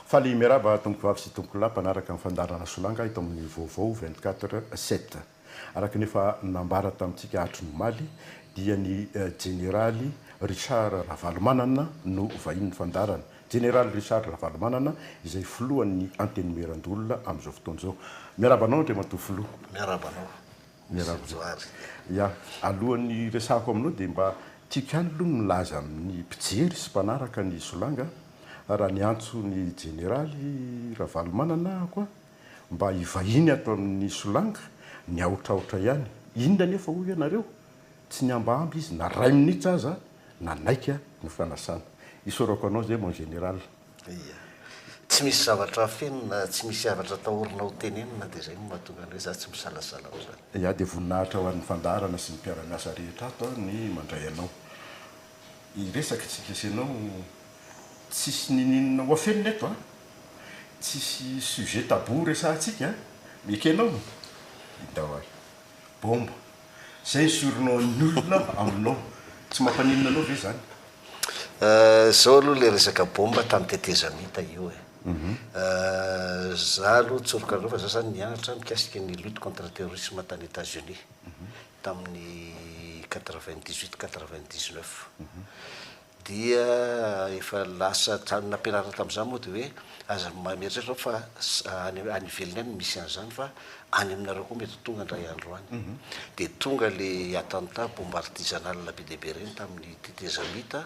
Faly miarahaba tompovavy sy tompolahy mpanaraka ny fandaharana Solanga eto amin'ny Vaovao vingt quatre heures sept. Araka ny efa nambara tamintsika hatry ny omaly dia ny Jeneraly Richard Ravalomanana no vahinin'ny fandaharana. Jeneraly Richard Ravalomanana izay filohan'ny Antenimierandoholona amin'izao fotoana izao. Miarahaba anao Andriamatoa Filoha. Miarahaba anao. Miarahaba Johary. Ya, alohan'ny hiresahako aminao dia mba tiako ihany aloha ny milaza amin'ny mpijery sy mpanaraka ny Solanga raha niantso ny Jeneraly Ravalomanana aho koa mba hivahiny ato amin'ny Solanga, niahotrahotra ihany. Inona anefa hoy ianareo? Tsy nihambahamba izy na ray minitra aza nanaiky ny fanasana. Isaorako anao izay mon Général. Ia. Tsy misy zavatra afeno na tsy misy havatra atahorana ho tenenina dia izay no mahatonga ny hoe za tsy misalasala amin'izany. Ia, dia voninahitra ho an'ny fandaharana sy ny mpiara-miasa rehetra ato aho ny mandray anao hiresaka isika sy ianao. Tsisy ninininona ho afenina eto an! Tsisy sujet tabou resahantsika an! Miekenao? Hidao aho. Bomba. Zay esorinao an'ny olona aminao. Tsy mampaninona anao ve zany? Zao aloha le resaka bomba tany tetezamita io e. Za aloha tsoroka anareo fa za zany nianatra mikasika ny lutte contre terrorisme tany Etats Unis tamin'ny quatre vingt dix huit quatre vingt dix neuf. Dia efa lasa trano nampianarina tamin'izany moa dia hoe aza mieritreritra fa any ivelany any no misy an'izany fa any aminareo koa mety ho tonga indray andro any. Dia tonga ilay attentat bombe artisanale be dia be ireny tamin'ny tetezamita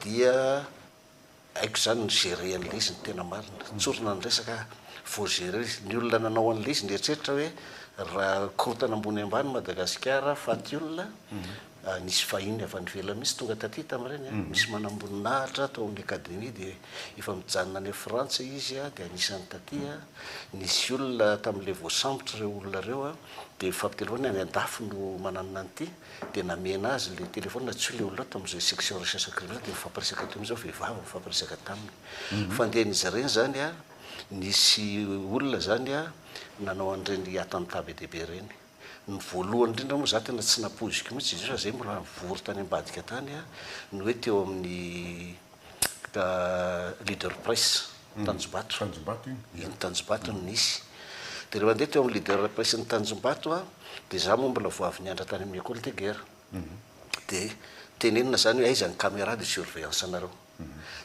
dia haiko izany ny gérer an'ilay izy ny tena marina. Tsorina ny resaka faut gérer izy. Ny olona nanao an'ilay izy nieritreritra hoe raha korontana ambony ambany Madagasikara faty olona Nisy vahiny avy any ivelany mihitsy tonga taty tamin'ireny. Misy manamboninahitra tao amin'ny Academie dia efa mijanona any Frantsa izy dia anisan'ny taty. Nisy olona tamin'ilay voasambotra ireo olona ireo dia nifampitelefaonina, any an-dafy no mananona an'ity dia namena azy ilay telefaonina tsy ho ilay olona tamin'izay section recherche criminelle dia nifampiresaka teo mihitsy vehivavy nifampiresaka taminy. Fandehan'izy ireny izany nisy olona izany nanao an'ireny attentat be dia be ireny. Ny voalohany indrindra moa zah tena tsy nampoiziko mihitsy izay zay mbola nivory tany ambadika tany a, ny hoe teo amin'ny leader press tanjombato, Tanjombato iny dia. Iny tanjombato no nisy. Dia ilay mandeha teo amin'ny leader press ny tanjombato a, dia zah moa mbola vao avy niandra tany amin'ny ecole de guerre, dia tenenina zany hoe aiza ny camera de surveillance anareo?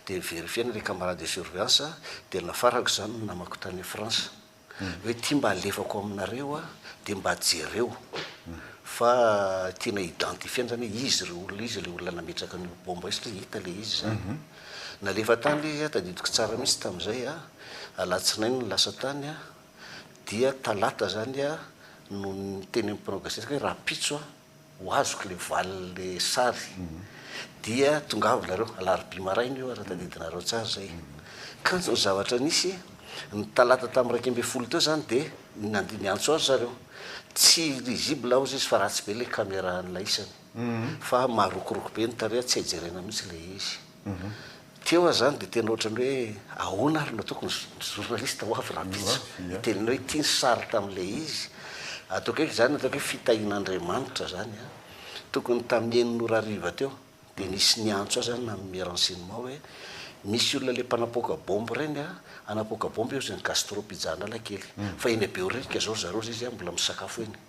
Dia verifier-na ilay camarade de surveillance dia nafarako zany ny namako tany France. hoe ity mba alefako aminareo a, dia mba jereo fa tena identifier-ny zany hoe izy ireo olona izy ilay olona nametraka an'io bomba io satria hita ilay izy zany. Nalefa tany ilay izy a, tadidiko tsara mihitsy tamin'izay a, alatsinainy no lasa tany a, dia talata zany a no ny teny amin'ny mpanao gazety hoe rahampitso a, ho azoko le valiny le sary dia tongava nareo alarobia maraina io raha tadidinareo tsara zay kanjo ny zavatra nisy ny talata tam iraika ambin'ny folo teo zany dia nandeha niantso azy zareo tsy risible hozy izy fa ratsy be le caméra an'ilay isany fa marokoroko be ny tareha tsy hay jerena mihitsy le izy Teo aho zany dia tena ohatran'ny hoe ahoana ary no tokony ny journaliste ho avy rahampitso hiteny anao ity ny sary tamin'ilay izy ataoko hoe izany ataoko hoe fitahian'Andriamanitra zany an! tokony tamin'ny enina ora hariva teo dia nisy niantso ahy zany nanome renseignement hoe misy olona ilay mpanapoaka bombe ireny an! hanapoaka bombe eo izay ny gastro pizza Analakely fa eny Behoririka izao ry zareo izay izy an! mbola misakafo eny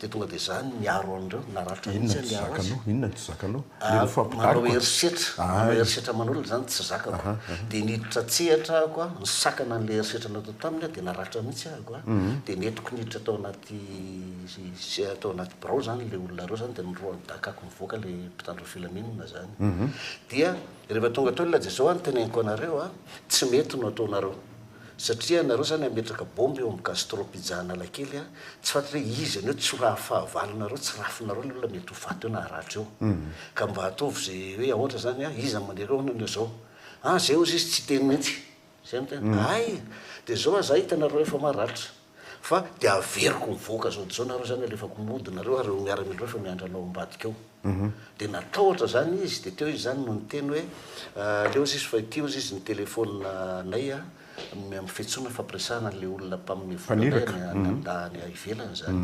dia tonga dia zany miaro an'ireo na rafitra mihintsy aza miaro azy, inona no tsy zakanao? manao herisetra, manao herisetra aman'olona izany tsy zakako, dia niditra an-tsehatra ahiko an, nisakana an'ilay herisetra natao taminy aho dia naratra mihintsy ahiko an, dia nentiko niditra tao anaty tao anaty birao izany ilay olona ireo izany dia norohany dakako nivoaka ilay mpitandro ny filaminana izany, dia rehefa tonga teo ilay Jesosy an, teneniko anareo an, tsy mety no ataonareo, Satria nareo zany ametraka bomba eo am gastro pizza analakely a, tsy fantatro hoe izy anio tsy ho raha fahavalo nareo tsy rafinareo ny olona mety ho faty eo na haratra eo ka mba ataovy ze hoe aotra zany a iza mandeha eo anio zao a zay ozy izy tsy hiteny mintsy zay no tena hay de zao aza hitanareo efa maratra Fa dia averiko mivoaka zao dia zao nareo zany alefako mody nareo ary reo miaramila efa miandry anao ambadika ao. Dia natahotra zany izy dia teo izy zany no niteny hoe aleo ozy izy fa ity ozy izy ny téléphone nay a amin'ny fiantsoana fampiresahana an'ilay olona mpamin'ny vola nay any andahy any ivelany zany.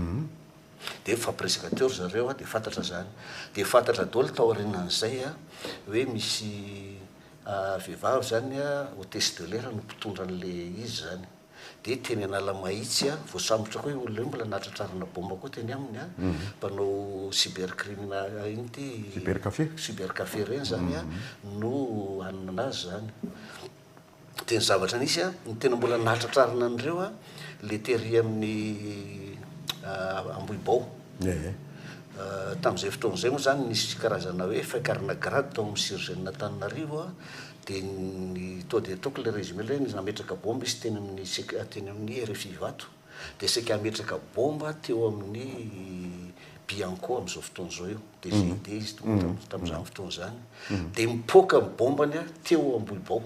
Dia nifampiresaka teo ry zareo a dia fantatra zany. Dia fantatra daholo taorianan'izay a hoe misy vehivavy zany a hotesse de l'air no mpitondra an'ilay izy zany. dia teny Analamahitsy a, voasambotra koa io olona io, mbola nahatratrarana baomba koa teny aminy a, mpanao cyber crimina ino ty? Cyber café. Cyber café ireny zany a, no hanana azy zany. Dia ny zavatra nisy a, ny tena mbola nahatratrarana an'ireo a, le tery amin'ny Ambohibao. Ehe. Tamin'izay fotoana izay moa zany nisy karazana hoe fain-karena grade tao amin'ny Surgène Antananarivo a, Dia ny toa dia ataoko ilay résumé ilay hoe nametraka bomba izy teny amin'ny CECA teny amin'ny rfi Ivato, dia saika hametraka bomba teo amin'ny Bianco amin'izao fotoana izao io, dia VD izy tompoko tamin'izany fotoana izany, dia mipoaka ny bombany teo Ambohibao,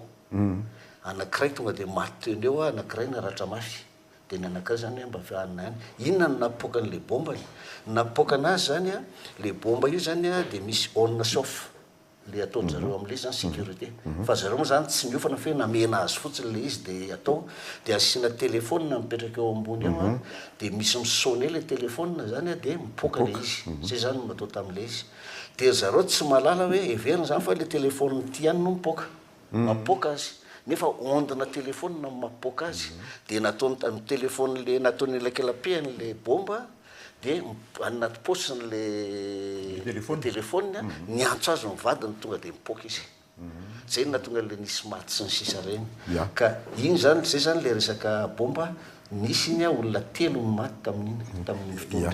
anankiray tonga dia maty teo ny eo, anankiray naratra mafy, dia ny anankiray izany hoe mba any na any. Inona no napoaka an'ilay bombany? Ny napoaka anazy izany, ilay bomba io izany dia misy on sy off, le ataon zareo amle zany securite fa zareo mo zany tsy miofana fe namena azy fotsiny le izy de atao de asina telephone mipetraka eo ambony eo an de misy mi sonne le telephone zany an de mipoka le izy zay zany no natao tamle izy de ry zareo tsy mahalala hoe heverina zany fa le telephone ty ihany no mipoka mapoaka azy nefa onde-na téléphone no mapoaka azy dia nataony tamin'ny téléphone le nataony elakelapehany le bomba dia any anaty paosiny le téléphone niantso azy ny vadiny tonga dia nipoaka izy zay no nahatonga le nisy maty sy ny sisa ireny ka iny zany zay zany le resaka bomba nisy iny a olona telo no maty tamin'iny tamin'iny fotoana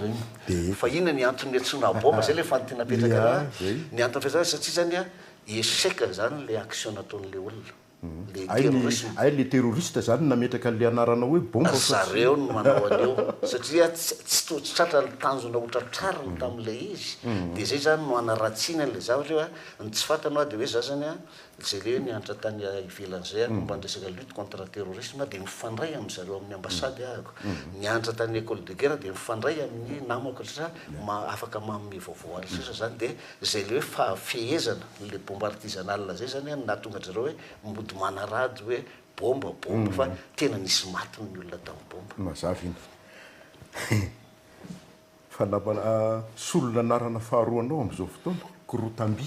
ireny fa inona ny antony niantsoana bomba zay le fanontena apetraka raha ny antony fiantsonana satria zany a Echec zany le action nataony le olona, le terrorisme. Hay le terroriste zany nametraka anle anaranao hoe bomba satria. Zareo no manao an'io satria tsy toa tsy tratra ny tanjona ho tratrariny tamle izy de zay zany no hanaratsiany anle zavatra io a, ny tsy fatano a de hoe za zany a zay le niantra tany ivelany zay a momba ny resaka lutte contre terrorisme a de mifandray am zareo aminy ambassade ahako, niantra tany ecole de guerre de mifandray aminy namako satria afaka manome vaovao aly sisa zany de. Zay le hoe fahafehezana le bomba artisanale zay zany no nahatonga an-dry zareo hoe mody manarady hoe bomba bomba fa tena nisy maty ny olona tamin'ny bomba. Mazava iny. Fa namana solon'anarana faharoa anao amin'izao fotoana, Korotambi.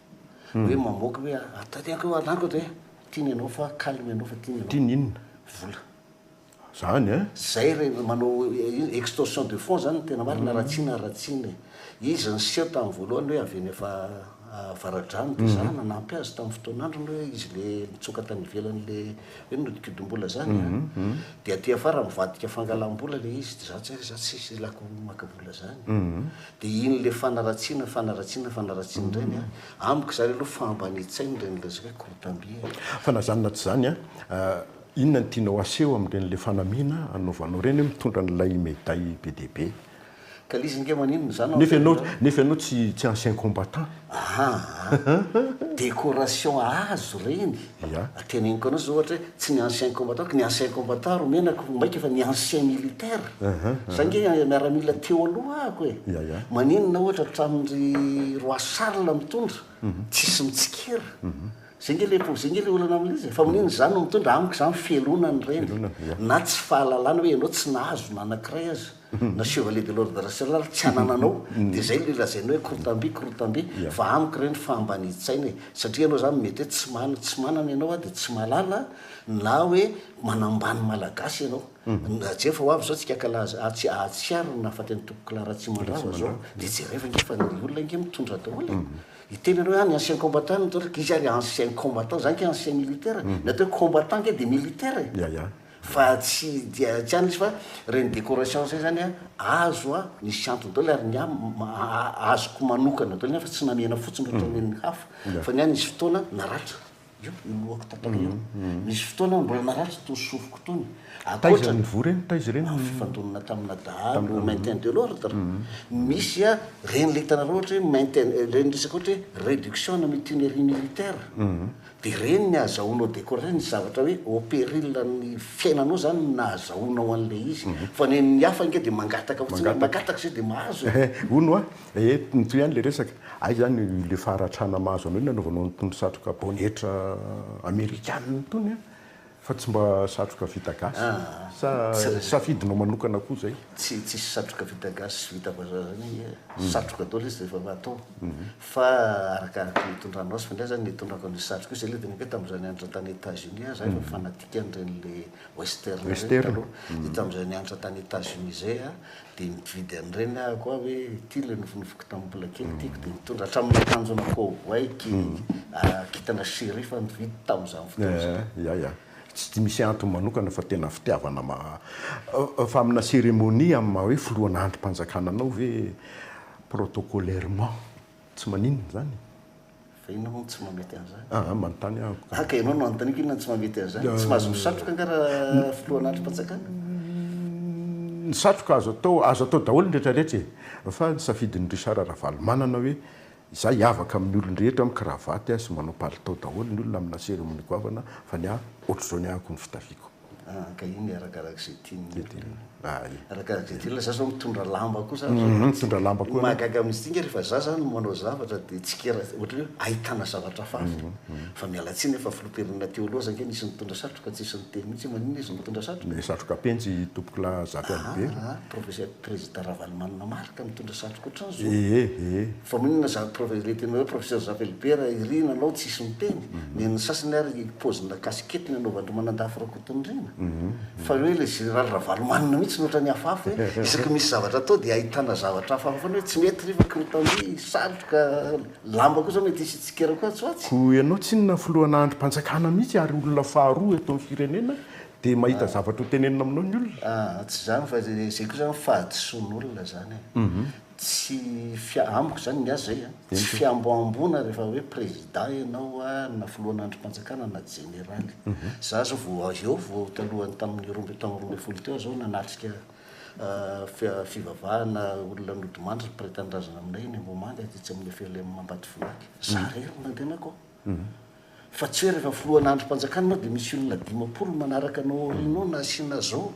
hoe mamoaka hoe atao ty anko anako atao hoe tiany anao fa calme anao fa tiany anao tiany inona vola zany eh zay re manao extorsion de fond zany tena marina raha tsy na raha tsy ny izy niseho tamin'ny voalohany hoe avy eny fa avaradrano dia za nanampy azy tamin'ny fotoan'androny hoe izy le nitsoka tany ivelany le hoe nodikodim-bola zany dia aty afara mivadika fangalam-bola le izy dia za tsy za tsy hilako maka vola zany Dia iny ilay fanaratsiana, fanaratsiana, fanaratsiana indray ny ahy. Amiko izany aloha fahambanian-tsaina ilay nilazaiko hoe courtambi e. Fa na izany na tsy izany an, inona no tianao haseho amin'ireny ilay fanamiana anaovanao ireny hoe mitondra an'ilay medaille be dia be? Ka l'izy ange maninona izany ao am-piangonana ao? Nefa ianao tsy ancien combattant. Aha, décoration azo ireny. Ya. Teneniko anao zao ohatra hoe tsy ny ancien combattant ko ny ancien combattant ro menako ho maika fa ny ancien militaire. Za nge miaramila teo aloha ako e. Ya ya. Maninona ohatra hatramin ry roi Charles mitondra tsisy mitsikera. Zay nge le zay nge le olana amin izy e. Fa maninona za no mitondra amiko za mifelona ny reny. Na tsy fahalalana hoe enao tsy nahazo na anakiray aza. na chevalier de l'ordre national tsy anananao dia zay le lazainao hoe korotambe korotambe fa amiko ireny fahambanian-tsaina e! satria ianao zany mety hoe tsy manana tsy manana ianao aho dia tsy mahalala na hoe manambany malagasy ianao na jereo fa ho avy zao tsika kala atsy ahatsiaro ny nahafaty an'i tompoko kala ratsimandrava zao dia jereo ange fa ny olona ange mitondra daholo e hiteny ianao hoe ah ny ancien combattant no mitondra izy ary ancien combattant zany ke ancien militaire ny atao hoe combattant ange dia militaire e! Fa tsy dia tsy any izy fa reny decoration zay zany an azo an nisy antony daoly ary ny ahy azoko manokana daoly ny ahy fa tsy namihana fotsiny ohatra omen'ny hafa fa ny ahy nisy fotoana naratra io ny lohako tapaka io nisy fotoana aho mbola naratra itony sofiko itony ankoatra taiza nivory eny taiza ireny ny fifandonana tamina dahalo maintain de l'ordre misy an reny le hitanareo ohatra hoe maintain reny resaka ohatra hoe reduction na mutinerie militaire Dia ireny ny ahazahoanao décorer ny zavatra hoe au péril an'ny fiainanao izany no nahazahoanao an'ilay izy. Fa ny an'ny hafa ange dia mangataka fotsiny hoe mangataka izay dia mahazo e! Hono hoa, ee, mitohy ihany ilay resaka. Hay izany ilay faharatrana mahazo anao iny nanaovanao an'itony satroka baonetra amerikanina itony an! Fa tsy mba satroka vita gasy? Sa safidinao manokana koa zay? Tsy tsisy satroka vita gasy sy vita vazaha zany e, satroka daholo izy rehefa atao fa arakaraky ny itondranao azy, fa ndray zany ny itondrako an'io satroka io zay le tena hoe tam'zay nianatra tany Etats Unis ah, za efa fanatique an'ireny le western reny taloha, de tam'zay nianatra tany Etats Unis zay ah Dia nividy an'ireny aho koa hoe ity ilay nofinofiko tamin'ny mbola kely tiako dia nitondra hatramin'ny akanjo ana cowboy kintana sheriff nividy tamin'izany fotoana izany. Ia ia. Tsy misy antony manokana fa tena fitiavana ma fa amina cérémonie amin'ny maha hoe filohana andrim-panjakana anao ve protocolairement tsy maninona izany e? Fa inona moa no tsy mahamety an'izany? Ah, ah, manontany aho. Ah, ka ianao no anontaniako inona no tsy mahamety an'izany? Tsy mahazo misatroka nga raha filohan'andrim-panjakana? Ny satroka azo atao, azo atao daholo ny rehetra rehetra e. Fa ny safidin'i Richard Ravalomanana hoe izaho hiavaka amin'ny olon-drehetra mikravaty sy manao palitao daholo ny olona amina seremony goavana fa ny ahy ohatr'izao ny ahiko ny fitafiako. Ah, ka iny arakarak'izay tian'ny olona. Ah, iny. Arakarak'izay tian'ny olona. Za zao mitondra lamba koa za. Mhm, mitondra lamba koa ianao. Mahagaga amin'izy ity ange rehefa za zany no manao zavatra dia tsikera, ohatran'ny hoe ahitana zavatra hafa avy. Fa miala tsiny aho fa filoham-pirenena teo aloha aza ange nisy nitondra satroka, tsy nisy niteny mihitsy hoe maninona izy mitondra satroka. Ny satroka penjy i Tompokolahy Zafialibe. Ah, ah, professeur. Prezida Ravalomanana Marc mitondra satroka otrany zo. Ee ee. Fa maninona za prof le tena hoe professeur Javelbert iry nanao tsisy miteny? Nen'ny sasany ary pozina casquette nanaovandry Manandafy Rakotondriana. Fa hoe le général Ravalomanana mihitsy no otrany afafy hoe isaky misy zavatra atao dia ahitana zavatra afafy foana hoe tsy mety ry fa krotandria, satroka, lamba koa zao mety hisy tsikera koa atsy ho atsy. Koa ianao tsinona filohan'andrim-panjakana mihitsy ary olona faharoa eto amin'ny firenena Dia mahita zavatra ho tenenina aminao ny olona. Aah, tsy izany fa izay koa izany fahadisoan'olona izany e. Tsy fia-, amiko izany ny ahy izay a, tsy fihamboamboana rehefa hoe président ianao na filohan'andrim-panjakana na jeneraly. Izaho izao vao avy eo, vao talohan'ny tamin'ny roa amby, tamin'ny roa ambin'ny folo teo aho izao nanatrika aah, fivavahana olona nodimandry ny mpiray tanindrazana aminay eny Ambohimanga tetsy amin'ny FLM Ambatofinanky. Izaho irery no nandehanako ao. Fa tsy hoe rehefa filohana andrim-panjakana ianao dia misy olona dimampolo manaraka anao aoriana ao na asiana zao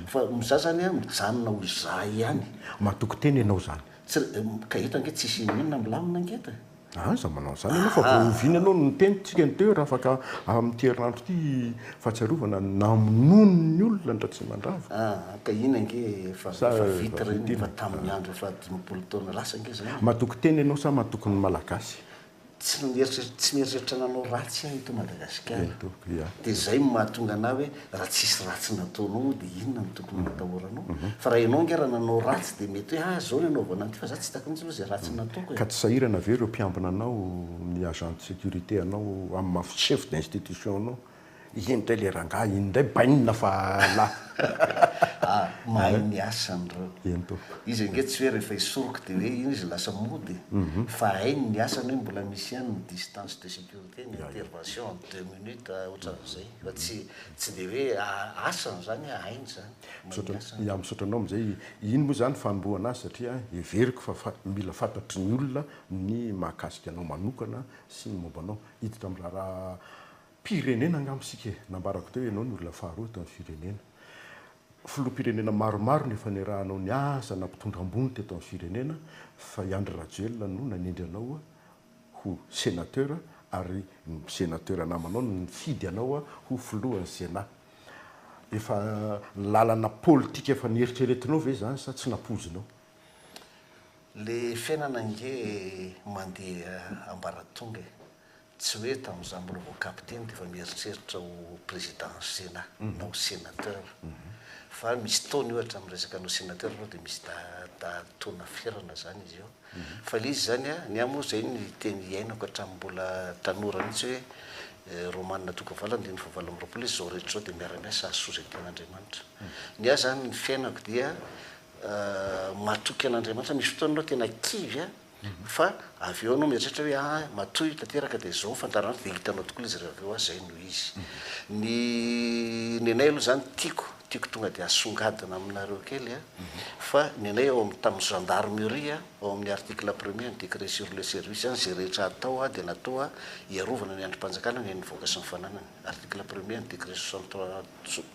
fa za zany an mijanona ho za ihany. Matoky tena ianao zany. Tsy ka eto ange tsisy inona inona milamina ange eto e. Aza manao an'izany ianao fa vao oviana ianao no niteny tsika ny teo hoe raha afaka amin'ity herinandro ity fahatsiarovana ny namonoany ny olona an-dRatsimandrava. Aa ka iny ange efa vita ireny efa tamin'ny andro efa dimampolo taona lasa ange izany. Matoky tena ianao sa matoky ny Malagasy? tsy mieritreritra tsy mieritreritra nanao ratsy aho eto Madagasikara Eto, ya. dia izay no mahatonga anah hoe raha tsisy ratsy nataonao moa dia inona no tokony ho atahoranao mhm. fa raha ianao ange raha nanao ratsy dia mety hoe ah izao no anaovana an'ity fa za tsy takony aloha izay ratsy nataoko e. Ka tsy sahirana ve ireo mpiambina anao ny agent de sécurité anao amin'ny maha chef d'institution anao Iny indray le rangahy iny indray bainina fa lah. Ah mahay miasa anreo. Eny tompoko. Izy ange tsy hoe rehefa hisoroka de hoe iny izy lasa mody e. Fa hainy ny asany hoe mbola misy ihany ny distance de sécurité, ny intervention en deux minutes otran'izay. Fa tsy tsy de hoe asany zany a, hainy zany. Mahay miasa anreo. Ya misaotra anao amzay. Iny moa zany fanombohana azy satria heveriko fa fa mila fantatry ny olona ny mahakasika anao manokana sy ny momba anao. Hiditra am raharaha Mpirenena angamba isika e! Nambarako teo ianao ny olona faharoa eto amin'ny firenena. Filoham-pirenena maromaro no efa niarahanao niasa na mpitondra ambony teto amin'ny firenena fa i Andry Rajoelina no nanendry anao ho Sénateur ary ny Sénateur namanao no nifidy anao ho Filohan'ny Sénat. Efa lalana politika efa nieritreretinao ve izany sa tsy nampoizinao? Le fiainana ange mandeha ambaratonga e! Tsy hoe tamin'izaho mbola vao capitaine dia efa mieritreritra ho président Sénat na ho sénateur fa misy taona io hatramin'ny resaka hanao sénateur aloha dia misy taona ferana izany izy io fa ilay izy izany a, ny ahy moa izay ny teny iainako hatramin'ny mbola tanora mihitsy hoe Romanina Toky Valo andininy fahavalo amby roapolo izy izao rehetra izao dia miara-miasa hahasoa izay tian'Andriamanitra. Ny ahy izany ny fiainako dia matoky an'Andriamanitra, misy fotoana aloha tena kivy aho Fa avy eo anao mieritreritra hoe ah matoy tanteraka dia zao fandaharana dia hitanao tokoa ilay izy raha avy eo ah zay no izy. Ny ny anay aloha zany tiako tiako tonga dia asongadina aminareo kely a, fa ny anay ao amin'ny tamin'ny gendarmerie a, ao amin'ny article premier ny décret sur le service any, izay rehetra atao a dia natao a hiarovana ny andrim-panjakana ny an'ny vahoaka sy ny fananany. Article premier ny décret soixante trois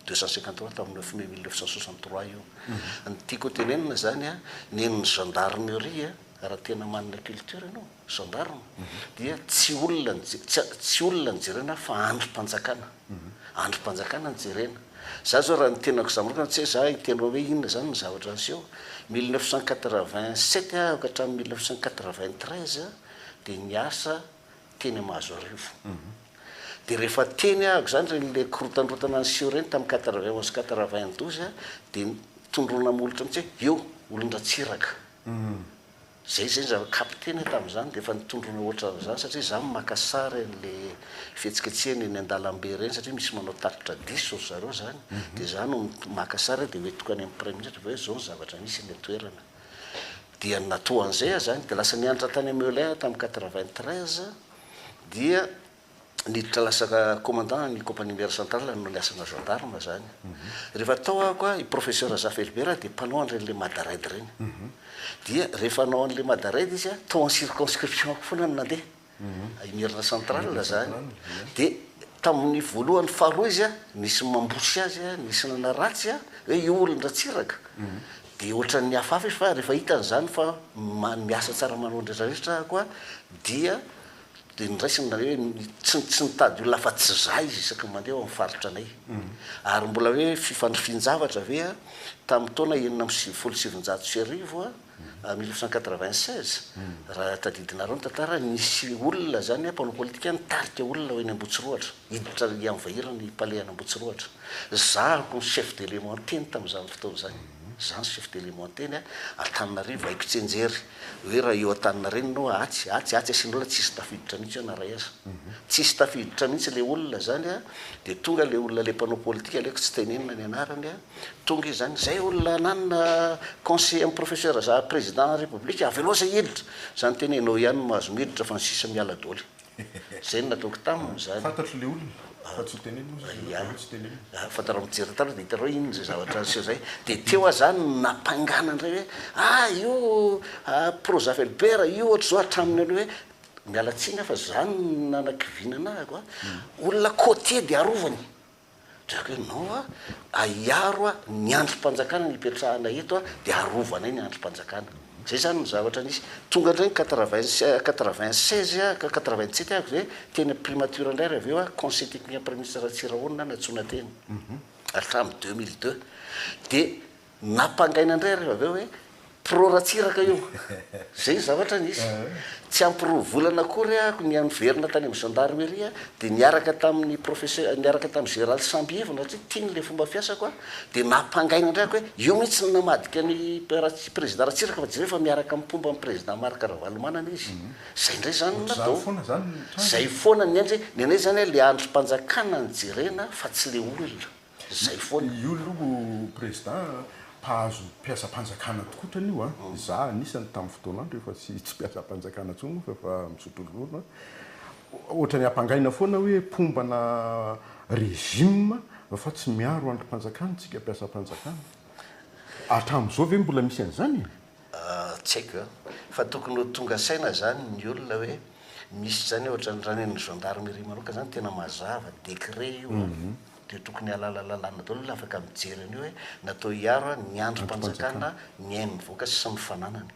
deux cent cinquante trois tamin'ny neuf mai mille neuf cent soixante trois io. Ny tiako ho tenenina izany an, nen'ny gendarmerie raha tena manana culture ianao, gendarme, dia tsy olona no je- tsy tsy olona no jerena fa andrim-panjakana. Andrim-panjakana no jerena. Izaho izao raha ny tenako izaho manokana, tsy hoe izaho hiteny hoe inona izany ny zavatra niseho, mille neuf cent quatre vingt sept aho ka hatramin'ny mille neuf cent quatre vingt treize dia niasa teny Mahazoarivo. Dia rehefa teny ahako izany ireny le korotandrotana niseho ireny tamin'ny quatre vingt onze sy quatre vingt douze a, dia tondroina molotra mihitsy hoe eo, olon-dRatsiraka. Izay izay ny zavatra capter-na tamin'izany dia efa nitondroina ohatran'izany satria izaho no maka sary an'ilay fihetsiketsehana eny an-dalambe ireny satria misy manao tatitra diso ry zareo izany, dia izaho no maka sary dia hoentiko any amin'ny praiminisitra hoe izao ny zavatra misy eny an-toerana. Dia na toa an'izay aza any dia lasa nianatra tany Melun tamin'ny quatre-vingt-treize dia niditra lasa commandant ny compagnie mère centrale nanao ny asana gendarme izany. Rehefa tao aho koa i professeur Zafelibera dia mpanao an'ireny le mada raid ireny. Dia rehefa hanao an'ilay mada raid izy a, tao amin'ny circonscription-ko foana no nandeha. Imerina central zany de tamin'ny voalohany faharoa izy nisy mambosy azy nisy nanaratsy hoe io olon dratsiraka de ohatran'ny niafafy izy fa rehefa hitany izany fa miasa tsara manao ny rehetra rehetra ako a dia de niraisiny na hoe tsy tsy nitady olona afa tsy za izy isaky ny mandeha ao amin'ny faritra anay ary mbola hoe fifandrifian-javatra ve a tamin'ny taona enina amby sivifolo sy sivinjato sy arivo a mille neuf cent quatre-vingt-seize raha tadidinareo ny tantara, nisy olona zany mpanao politika nitarika olona ho eny Ambohitsirohatra, hiditra hianvaira ny palais any Ambohitsirohatra. Za no chef d'élément teny tamin'izany fotoana izany. Za no chef d'élément teny Antananarivo, haiko tsianjery hoe raha eo Antaninarenina eo atsy, atsy, atsy asian'olona tsisy tafiditra mihitsy eo na ray aza. Tsisy tafiditra mihitsy le olona zany dia tonga le olona le mpanao politika aleko tsy tenenina ny anarany. Tonga izany zay olona ananona conseiller am professeur za président na république avelao zay hiditra, zany tena enao ihany no mahazo miditra fa ny sisa miala doly. Zay no nataoko taminy zany. Fantatro le olona fa tsy ho tenenina ozy izy enao fa hoe tsy tenenina. Ah, fantarao mijery taloha de hitarao inona zay zavatra niseho zay. De teo ah zany no nampangana ndray hoe ah io ah prozafelbert io ohatry zao hatraminy aloha hoe miala tsiny ah fa zany no nanakiviana anahako ah olona côtier de arovany. Jerka ianao a, ahiaro a, ny andrim-panjakana no ipetrahana eto a, dia arovanay ny andrim-panjakana. Izay izany no zavatra nisy. Tonga indray ny quatre-vingt, quatre-vingt-seize a, quatre-vingt-sept a, dia teny amin'ny primature indray ary avy eo a, conseil technique an'ny praiminisitra Ratsirahonina no nantsoina teny, ary hatramin'ny deux mille deux. Dia. Nampangaina indray rehefa avy eo hoe pro Ratsiraka io. Izay ny zavatra nisy. Tsy ampy roa volana akory aho nia niverina tany amin'ny Gendarmerie dia niaraka tamin'ny Professeur, niaraka tamin'ny Général Sambievina satria tiany ilay fomba fiasako aho, dia nampangaina indray aho hoe io mihitsy no namadika an'i Président Ratsiraka fa jereo fa miaraka amin'ny mpomba an'i Président Marc Ravalomanana izy. Izay indray izany no natao. Ohatr'izany foana izany ny tranga e. Izay foana ny anjy hoe ny anay izany ilay andrim-panjakana no jerena fa tsy ilay olona. Zay foana io aloha président a, mpahazo mpiasam-panjakana tokoa otrany io a, za anisany tamin'ny fotoanandro efa tsy tsy mpiasam-panjakana tsony fa efa misotro ronono a, otrany ampangaina foana hoe mpombana régime fa tsy miaro andrim-panjakana tsika mpiasam-panjakana, hatramin'izao ve mbola misy an'izany e? Tsy haiko a, fa tokony ho tonga saina zany ny olona hoe misy zany otrany raha ny an'ny gendarmerie manokana zany tena mazava, décret io a. dia tokony halala lalàna daholo olona afaka mijery an'io hoe natao hiaro an ny andrim panjakana ny ainy mivoaka sy ny fananany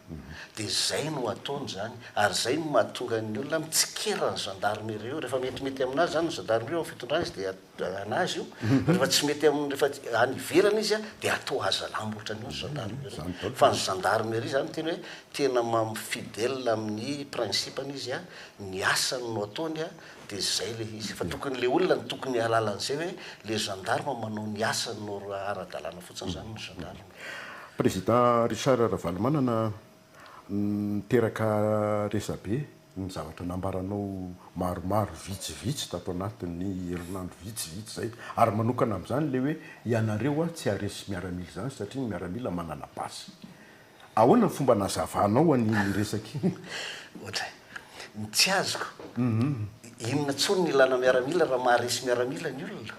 dia zay no ataony izany ary zay no mahatonga ny olona mitsikera ny gendarmerie io rehefa metimety aminazy izany ny gendarmerie eo am fitondrana izy dia anazy io rehefa tsy mety aminy rehefa any ivelany izy an dia atao hazalambo ohatran'io ny gendarmerie fa ny gendarmerie izany no tena hoe tena fidèle amin'ny principe-ny izy an ny asany no ataony an De zay le izy fa tokony le olona no tokony hialala an'izay hoe le gendarme manao ny asany no ara-dalàna fotsiny zany ny gendarme. Président Richard Ravalomanana niteraka resabe ny zavatra nambaranao maromaro vitsivitsy tato anatin'ny herinandro vitsivitsy zay ary manokana amzany le hoe ianareo tsy haharesy miaramila zany satria ny miaramila manana basy Ahoana ny fomba nazavanao an'iny resaka iny? Ohatra, ny tsy azoko, inona intsony ny ilana miaramila raha maharesy miaramila ny olona?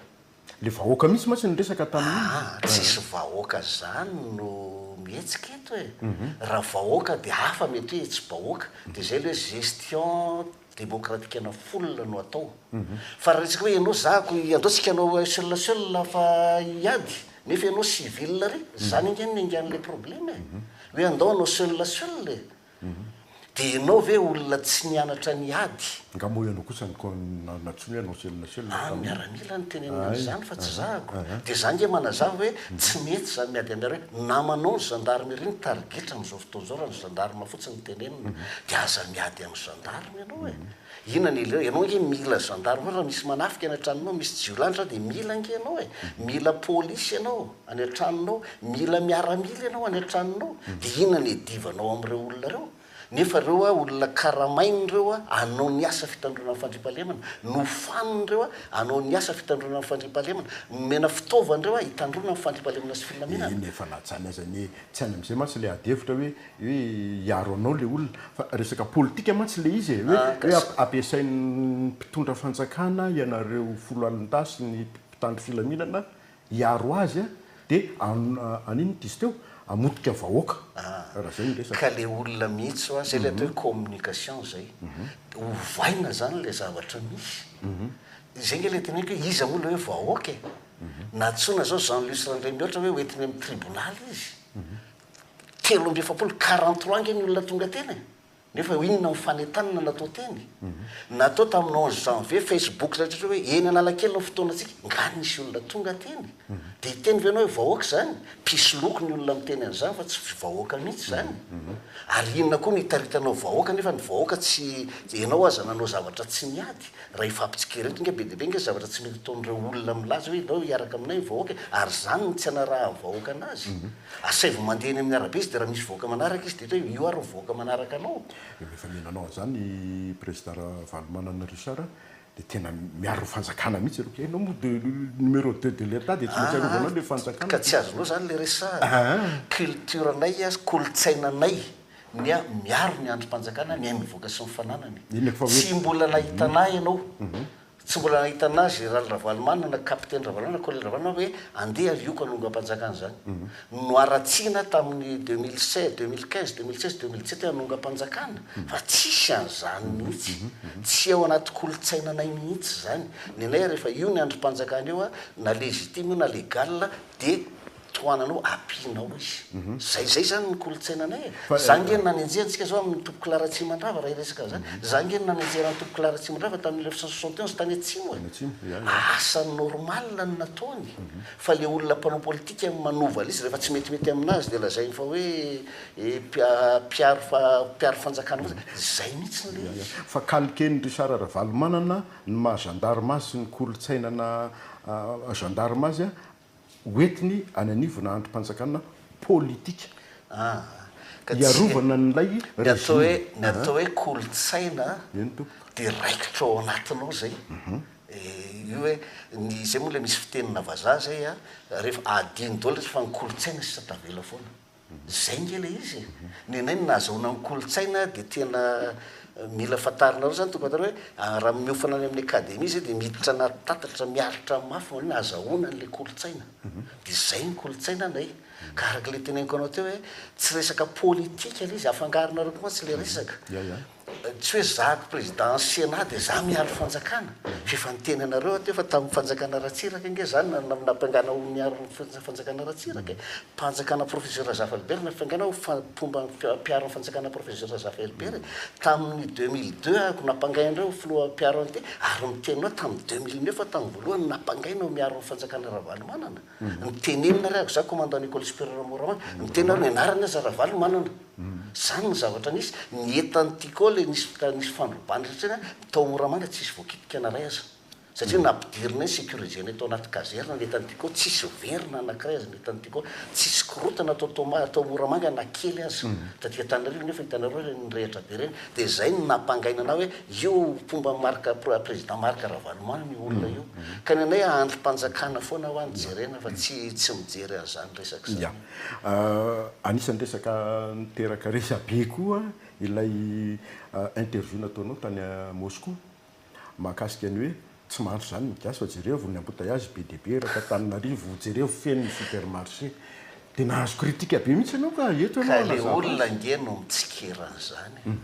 Le vahoaka mihitsy mantsy no resaka tamin'iny. Aa, tsisy vahoaka zany no mihetsika eto e! Raha vahoaka dia hafa mety hoe hetsi-bahoaka, dia zay le hoe gestion demokratikana folina no atao fa raha resaka hoe ianao zahako andao tsika anao seul seul fa hiady nefa ianao civil re zany ange ny ange anle probleme e hoe andao anao seul seul e de ianao ve olona tsy nianatra ny ady nga moa ianao kosa natsoina hoe anao seul seul fa ny miaramila no tenenina anzany fa tsy zahako de za nge manazava hoe tsy mety zany miady aminareo hoe namanao ny gendarmerie no tarigetra amzao Tonjora ny gendarme fotsiny tenenina dia aza miady amin'ny gendarme ianao e! Inona ny ileo? Ianao ange mila gendarme raha misy manafika any an-tranonao, misy jiolahitra dia mila ange ianao e! Mila polisy ianao any an-tranonao, mila miaramila ianao any an-tranonao, dia inona ny iadivanao amin'ireo olona ireo? Nefa ireo olona karamainy ireo hanao ny asa fitandroana ny fandriampahalemana, nofaniny ireo hanao ny asa fitandroana ny fandriampahalemana, nomena fitaovana ireo hitandroana ny fandriampahalemana sy filaminana. Dia inona efa lajany aza anie e! Tsy any amin'izay mantsy ilay ady hevitra hoe hoe hiaro anao ilay olona fa resaka politika mantsy ilay izy e! hoe ampiasain'ny mpitondra fanjakana ianareo folo alina dahy sy ny mpitandro filaminana hiaro azy a! dia an'ino no diso teo? hamotika vahoaka raha izay no resaka. Ka ilay olona mihitsy hoa izay ilay atao hoe communication izay dia ovaina izany ilay zavatra misy. Izay ange ilay teneniko hoe iza moa ilay hoe vahoaka e! Nantsoina izao Jean Luce Randriamihoatra hoe hoentiny amin'ny tribonaly izy. Telo amby efapolo, quarante trois ange ny olona tonga teny e! Nefa inona ny fanentanana natao teny? Natao tamin'ny onze janvier, Facebook rehetra hoe eny Analakely ny fotoanantsika, nga nisy olona tonga teny? Dia hiteny ve ianao hoe vahoaka izany? Mpisoloky ny olona miteny an'izany fa tsy vahoaka mihitsy izany. Ary inona koa no hitaritanao vahoaka nefa ny vahoaka tsy, ianao aza nanao zavatra tsy niady. Raha efa ampitsikera eto nga be dia be nga zavatra tsy mety ataon'ireo olona milaza hoe aleo hiaraka aminay ny vahoaka e! ary izany no tsy anarahan'ny vahoaka anazy. Asaivo mandeha eny amin'ny arabe izy dia raha misy vahoaka manaraka izy dia eto hoe io ary ny vahoaka manaraka anao. Io rehefa miha nanao an'izany i prezida Ravalomanana Richard dia tena miaro ny fanjakana mihitsy ianao. Ianao moa de numéro deux de l'Etat dia tsy maintsy arovanao ilay fanjakana. Ka tsy azonao izany ilay resahana. Culture-nay, kolontsainanay. ny ahy miaro ny andrim-panjakana, ny ahy mivoaka sy ny fananany. Inona fa hoe. Tsy mbola nahitana ahy ianao. Tsy mbola nahitana ahy Général Ravalomanana, Capitaine Ravalomanana, Colonel Ravalomanana hoe andeha alioka hanongam-panjakana izany. Noharatsiana tamin'ny deux mille seize, deux mille quinze, deux mille seize, deux mille dix-sept hoe hanongam-panjakana fa tsisy an'izany mihitsy. Tsy ao anaty kolontsainanay mihitsy izany. Ny anay rehefa io ny andrim-panjakana io, na légitime io na légal dia. tohananao apianao izy zay zay zany ny kolontsainanay e za nge nanenjeha antsika zao amin'ny topoko la ratsimandrava raha hiresaka zany za nge nanenjehana ny topoko la ratsimandrava tamin'ny mille neuf cent soixante et onze tany atsimo e asa normal no nataony fa le olona mpanao politika no manova liste rehefa tsy metimety aminazy dia lazainy fa hoe eh mpiaro fa mpiaro fanjakana fotsiny zay mihitsy le izy fa calquen'i Richard Ravalomanana ny maha gendarme azy sy ny kolontsainana gendarme azy hoentiny any anivona andrim-panjakana politika hiarovana an'ilay régime. Ny atao hoe kolontsaina dia raikitra ao anatiny ao izay. Io hoe ny izay moa ilay misy fitenina vazaha izay an, rehefa adino daholo ilay izy fa ny kolontsaina sisa tavela foana. Zay nge le izy e! Nenay no nahazahoana ny kolontsaina dia tena mila fantarinareo zany tompoko atao hoe raha miofana any amin'ny academie zay dia miditra anaty tatatra miaritra mafy manao hoe nahazahoana an'ilay kolontsaina dia zay ny kolontsaina nay ka araka ilay teneniko anao teo hoe tsy resaka politika le izy afangaronareo koa mantsy le resaka Tsy hoe zahako président ny Sénat dia za miaro fanjakana. F'efa niteny anareo aho teo fa tamin'ny fanjakana Ratsiraka ange zany na nampiangana ho miaro ny fanjakana Ratsiraka e. Mpanjakana Professeur Razafa Albert nampiangana ho mpomba mpiaro ny fanjakana Professeur Razafa Albert e. Tamin'ny deux mille deux aho ko nampangaina indray ho filoha mpiaro an'ity ary miteny anao tamin'ny deux mille neuf aho tamin'ny voalohany nampangaina ho miaro ny fanjakana Ravalomanana. Miteny inona ary aho? Za commandant Nicole Superieur Moraman. Miteny aho, ny anarany aza Ravalomanana. Zany ny zavatra nisy. Ny entan'i Tico le nisy ka nisy fandrobana satria an, tao Moramanga tsisy voakitika na ray aza. Satria nampidirinay, securisenay tao anaty kazerina ny entan'i Tico, tsisy very na anakiray aza ny entan'i Tico. Tsisy korontana tao Toamasina, tao Moramanga na kely aza. Taty Antananarivo nefa hitanareo reny, nirehitra be reny. Dia izay no nampangaina anah hoe io mpomba Marc président Marc Ravalomanana io olona io. Ka ny anay andrim-panjakana foana hoa no jerena fa tsy tsy mijery an'izany resaka izany. Yeah. Anisan'ny resaka niteraka resabe koa ilay interview nataonao tany Moscou. Mahakasika ny hoe tsy mahantra izany ny gasy fa jerevo ny embouteillages be dia be raha t'Antananarivo jerevo feno ny supermarché dia nahazo critique be mihitsy ianao ka eto ianao hanazava azy. Ka ilay olona ange no mitsikera an'izany e!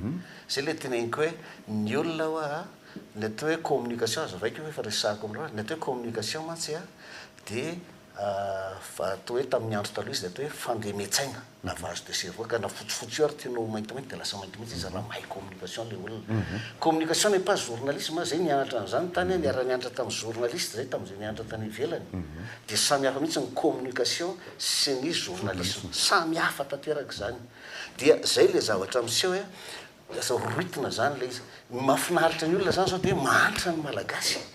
Izay ilay teneniko hoe ny olona ho'a ny atao hoe communication azo raikiko efa resahako aminareo, ny atao hoe communication mantsy dia Fa toa hoe tamin'ny andro taloha izy dia toa hoe fandeme-tsaina, lavage de cerveau, ka na fotsifotsy io ary tianao ho maintimainty dia lasa maintimainty izy raha mahay communication ilay olona. Communication n'est pas journalisme, izay nianatra an'izany tany aho, niara-nianatra tamin'ny journaliste izay tamin'izay nianatra tany ivelany. Dia samy hafa mihitsy ny communication sy ny journalisme. Samy hafa tanteraka izany. Dia izay ilay zavatra miseho hoe lasa rohitina izany ilay izy. Ny mahafinaritra ny olona izany izao dia hoe mahantra ny Malagasy e!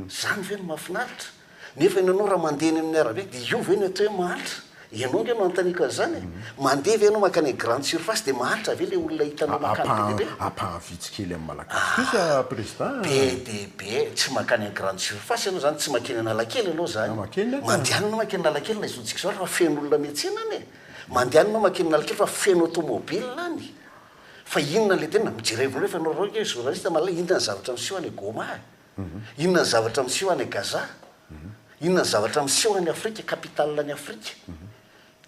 Zany ve no mahafinaritra? Nefa ianao raha mandeha eny amin'ny arabe dia io ve no atao hoe mahantra? Ianao ange no anontaniako an'izany e! Mandeha ve ianao mankany amin'ny grande surface dia mahantra ve ilay olona hitanao mankany be dia be? Ampaha vitsy kely amin'ny Malagasy kosa Prezida a! Be dia be, tsy mankany amin'ny grande surface ianao izany, tsy mankeny Analakely ianao izany. Mandehana ianao mankeny Analakely na izao tsika izao ary fa feno olona miantsena any e! Mandehana ianao mankeny Analakely fa feno automobile any! Fa inona ilay tena, mijerevo anareo fa ianareo ange journaliste mahalala inona ny zavatra miseho any Goma e! Inona ny zavatra miseho any Gaza? Inona ny zavatra miseho any Afrika, capitale any Afrika?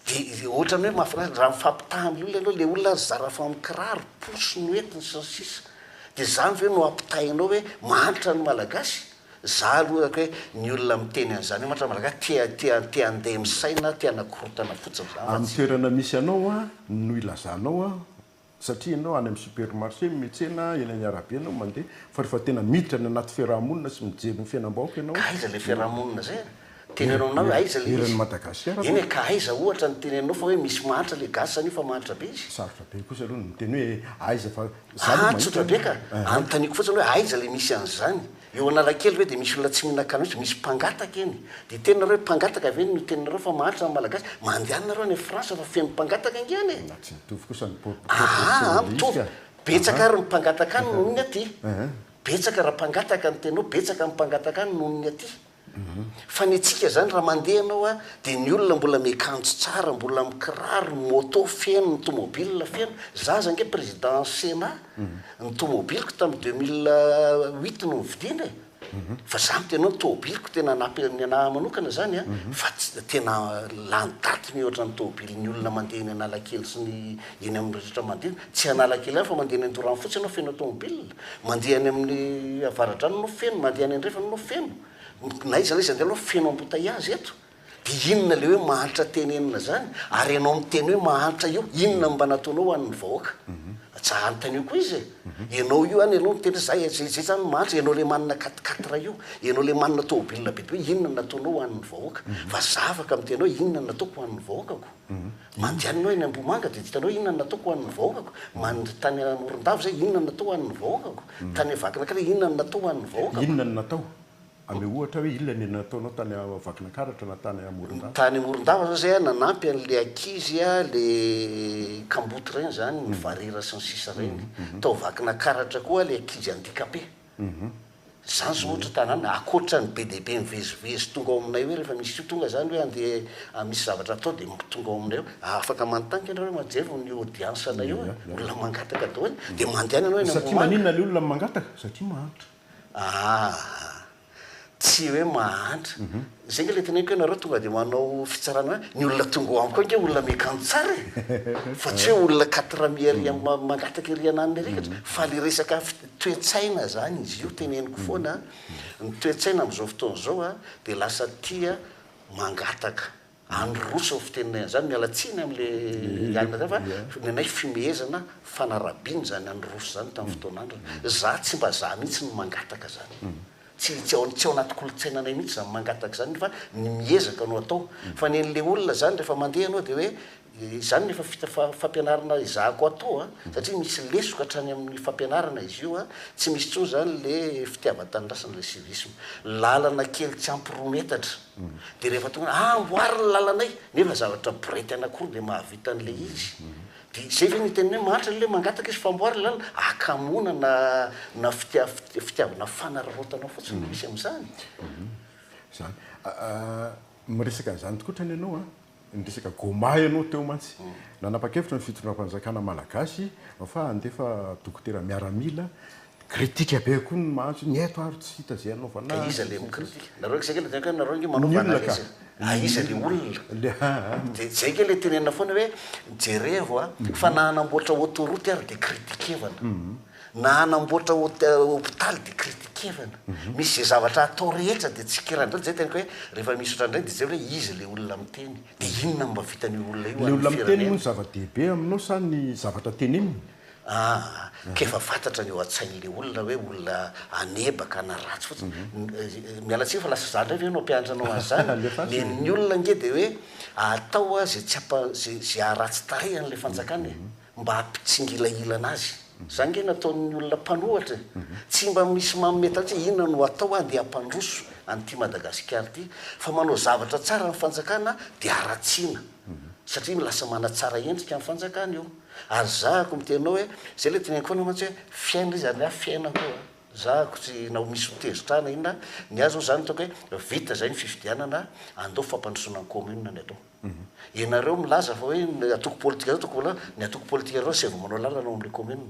Dia ohatran'ny hoe mahafinaritra, raha mifampitaha ny olona ianao, ilay olona aza zara fa mikiraro, pousse ny entiny sy ny sisa. Dia izany ve no ampitahainao hoe mahantra ny Malagasy? Izaho aloha hoe ny olona miteny an'izany, mahantra ny Malagasy, te-te te-handeha misaina, te-hanakorontana fotsiny izany fa tsy. Amin'ny toerana misy anao no ilazanao satria ianao any amin'ny supermarché, metsena, eny amin'ny arabe ianao mandeha, fa rehefa tena miditra any anaty fiaraha-monina sy mijery ny fiainam-bahoaka ianao, Aiza ilay fiaraha-monina izay an? Teny ianao aminareo, aiza ilay izy? Eran'i Madagasikara Eny ve? e, ka aiza ohatra no teny anao fa hoe misy mahantra ilay gasy anio fa mahantra be izy? Sarotra be kosa aloha ny miteny hoe aiza fa za aloha Ah, mahita tsotra be ka! an, eh. Anontaniako fotsiny hoe aiza ilay misy an'izany? Eo Analakely ve dia misy olona tsy mihinana kanosa? Misy mpangataka eny. Dia hiteny nareo hoe mpangataka ve no teninareo fa mahantra ny Malagasy? Mandehana nareo any France fa feno mpangataka ange any e! Na tsy mitovy kosa ny po- Aa proportion ah, mitovy. miisa. Betsaka ary ny mpangataka any noho ny aty. Betsaka raha mpangataka ny tena ao, betsaka ny mpangataka any noho ny aty. Fa ny antsika zany raha mandeha ianao a dia ny olona mbola miakanjo tsara, mbola mikiraro, ny moto feno, ny tomobile feno, za aza ange président senat ny tomobiliko tamin'ny deux mille huit no nividiana e, fa za miteny hoe tomobiliko tena nape ny anah manokana zany a, fa tsy tena lany daty mihôtra ny tomobilin'ny olona mandeha eny analakely sy ny eny amin'ny rehetra mandeha, tsy analakely ihany fa mandeha eny an-dorano fotsiny ianao feno tomobile. Mandeha any amin'ny avaradrano no feno, mandeha any andrefana no feno. Na iza na iza andeha aloha feno embouteillages eto. Dia inona ilay hoe mahantra tenenina izany? Ary ianao miteny hoe mahantra io, inona no mba nataonao ho an'ny vahoaka? Aza anontanio koa izy e! Ianao io any ianao miteny hoe za izay izay izany no mahantra, ianao ilay manana quatre quatre io, ianao ilay manana tomobilina bebe io, inona no nataonao ho an'ny vahoaka? Fa zavaka miteny hoe inona no nataoko ho an'ny vahoakako? Manjany aho eny Ambohimanga dia tsy hitanao inona no nataoko ho an'ny vahoakako. Manj, tany Morondava izay inona no natao ho an'ny vahoakako. Tany Vakinankaratra inona no natao ho an'ny vahoakako. Inona no natao? Ameo ohatra hoe inona no nataonao tany Vakinankaratra na tany Morondava. Tany Morondava izao izay aho nanampy an'ilay ankizy ilay kamboty ireny izany, ny varira sy ny sisa ireny. Tao Vakinankaratra koa aho ilay ankizy handicapé. Za zao ohatra tanàna akoatra ny be dia be mivezivezy tonga ao aminay hoe rehefa misy io tonga zany hoe andeha misy zavatra atao dia tonga ao aminay ao, afaka manontany ianareo hoe majereo ny audience anay ao e, olona mangataka daholo e, dia mandehana ianao eny Ambohimanga. Satria maninona ilay olona mangataka? Satria mahantra. Ah! Tsy hoe mahantra. Izay ange ilay teneniko hoe ianareo tonga dia manao fitsarana hoe ny olona tonga ao amiko ao ange olona miakanjo tsara e! Fa tsy hoe olona quatre amis ery amin'ny mangataka ery ananiny ery eto. Fa ilay resaka toe-tsaina izany izy io teneniko foana. Ny toe-tsaina amin'izao fotoana izao dia lasa tia mangataka. Androso ny fitenenay an'izany, miala tsiny amin'le Yann zany fa ny anay fimehezana, fanarabiana izany androso izany tamin'ny fotoana andro. Za tsy mba za mihitsy no mangataka izany. Tsy tsy ao tsy ao anaty kolontsainanay mihitsy izany mangataka izany fa ny miezaka no atao. Fa ny an'le olona izany rehefa mandeha ianao dia hoe Izany no efa vita fampianarana ezahako atao a, satria misy lesoka hatrany amin'ny fampianarana izy io a, tsy misy intsony izany le fitiavan-tanindrazana le civisme. Lalana kely tsy ampy roa metatra dia rehefa tonga hoe amboary ny lalanay, nefa zavatra borety anankiroa dia mahavita an'ilay izy, dia izay ve no hiten'ny hoe mahantra ilay hoe mangataka izy fa amboary ny lalana, akamoana na na fitia fitiavana fanararaotana fotsiny no misy amin'izany. Izany. Miresaka an'izany tokoa hatrany ianao a. Niresaka Goma ianao teo mantsy. Nanapa-kevitra ny fitondram-panjakana malagasy fa handefa dokotera miaramila. Critique be koa ny mahantra hoe ny eto ary tsy hita izay hanaovana azy. Ka iza ilay mi-critique? Nareo akaiza kely dia nareo ange manova analyse e. Aiza ilay olona? Dia izay ange ilay tenenina foana hoe jerevo fa na hanamboatra autoroute ary dia critique-evana. Na hanamboatra hopitaly dia critiquer-na. Misy izay zavatra atao rehetra dia tsikera. Indraindray izay teniko hoe rehefa misy ohatran'ny ireny dia jereo hoe iza ilay olona miteny? Dia inona no mba vitan'io olona io ho an'ny firenena? Ilay olona miteny moa no zava-dehibe aminao sa ny zavatra teneniny? Ah, ka efa fantatra ny eo an-tsain'ilay olona hoe olona hanebaka na ratsy fotsiny. Miala tsiny fa lasa za indray ve no hampianatra anao azy izany? Alefaso e! Ny olona ange dia hoe atao izay tsy hampa, izay haharatsy tarehy an'ilay fanjakana e! mba hampitsingilahilana azy. Zany nge nataon'ny olona mpanohatra e! Tsy mba misy manome tatra hoe inona no hatao handeha hampandroso an'ity Madagasikara ity fa manao zavatra tsara ny fanjakana dia haratsiana satria lasa manatsara endrika ny fanjakana io. Ary zahako miteny anao hoe zay le teneniko anao mantsy hoe fiaina izy ary ny ahy fiaina koa a! Zahako tsy na misy ho tezitra ahy na inona, ny ahy zao zany hitako hoe vita zay ny fifidianana andao fampandrosoana ny commune ny atao. Ianareo milaza fa hoe ny antoko politika zao tokony ho, ny antoko politika ianareo tsy avy manao lalana ao amin'ilay commune,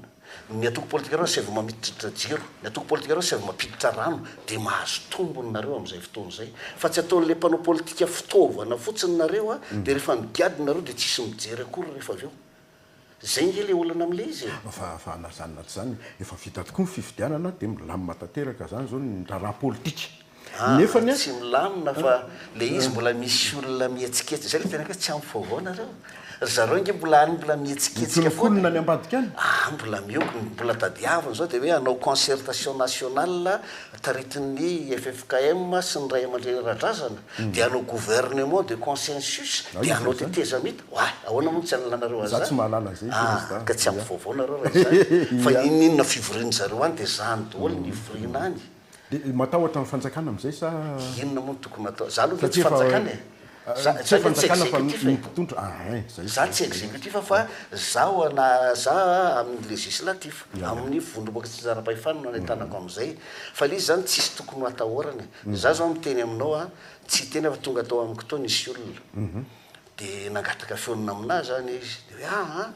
ny antoko politika ianareo tsy avy mamitiditra jiro, ny antoko politika ianareo tsy avy mampiditra rano, dia mahazo tombony nareo amin'izay fotoana izay. Fa tsy ataon'ilay mpanao politika fitaovana fotsiny nareo dia rehefa nigadona nareo dia tsisy mijery akory rehefa avy eo. Zay nge le olana amle izy e! Fa fa na zany na tsy zany efa vita tokoa ny fifidianana dia milamina tanteraka zany zao ny raharaha politika nefany a! Tsy milamina fa le izy mbola misy olona mihetsiketsika zay le tena hoe tsy ampy vaovao nareo? Ry zareo nge mbola any mbola mihetsiketsika foana e! Mikononkonona any ambadika any? Ah mbola miogona, mbola tadiaviny zao dia hoe hanao concertation nationale taritin'ny ffkm sy ny ray aman-dreny ara-drazana dia hanao gouvernement de consensus dia hanao tetezamita. Oay, ahoana moa no tsy hanalanareo an'izany? Za tsy mahalala an'izay intsony ah, Rasta. Ah, ka tsy ampy vaovao nareo raha izany. Fa ininona fivorian'ny zareo any dia izany doholy ny hivoriana any. Dia matahotra ny fanjakana amin'izay sa? Inona moa no tokony hatao? Za aloha ve tsy fanjakana e? Za za ve tsy executif e? Za tsy executif fa zaho na za amin'ny législatif, amin'ny vondromboka tsy nizara-pahefana no nanetanako amin'izay. Fa ilay izy izany tsisy tokony ho atahorana e. Za zao miteny aminao an, tsy hiteny aho fa tonga tao amiko tao nisy olona. dia nangataka feo namnà izany izy dia hoe ah an,